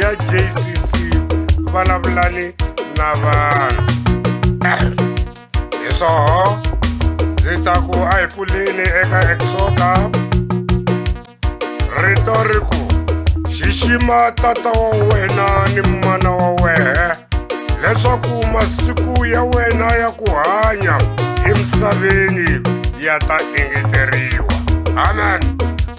ya jcc vulavulani na vanhu hi swoho ndzi ta ku a hi pfuleni eka exoda rito ri ku xixima tata wa wena ni mana wa wehe leswaku masiku ya wena ya ku hanya emisaveni ya ta engeteriwa amen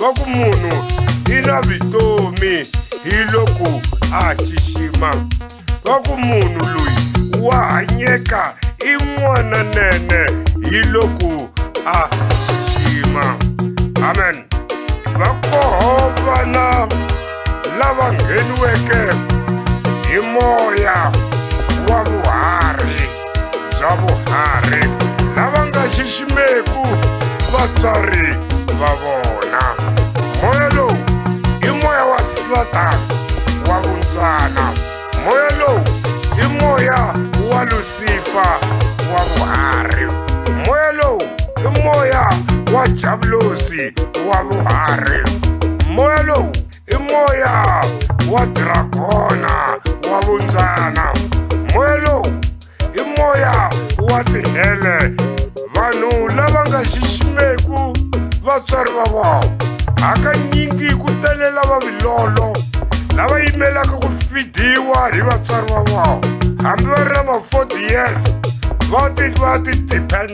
va ku munhu i na vitomi hi loku a xixima va ku munhu loyi wa hanyeka i n'wana nene hi loku a xixima amen va koho vana lava ngheniweke hi moya wa vuhari bya vuharhi lava nga xiximeku vatswari va vona moya lowu i moya wa satana wa vuntswana moya lowu i moya wa lusifa wa vuharhi moya lowu i moya wa jabulosi wa vuharhi moya lowu i moya wa dragona wa vundzana moya lowu i moya wa tihele vanhu lava nga xiximeku vatswari va vona hakanyingi ku tele lava vilolo lava yimelaka ku fidiwa hi vatswari va vona hambi va ri na ma-forty years va ti va ti depend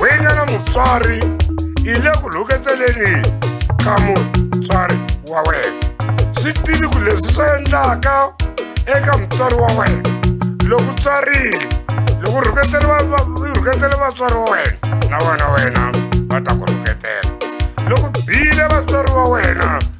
wena na mutswari i le ku lhuketeleni ka mutswari wa wena swi tivi ku leswi swi endlaka eka mutswari wa wena loko tswarile loko rhuketele vatswari wa wena na wena wena va ta ku rhuketela loko bile vatswari wa wena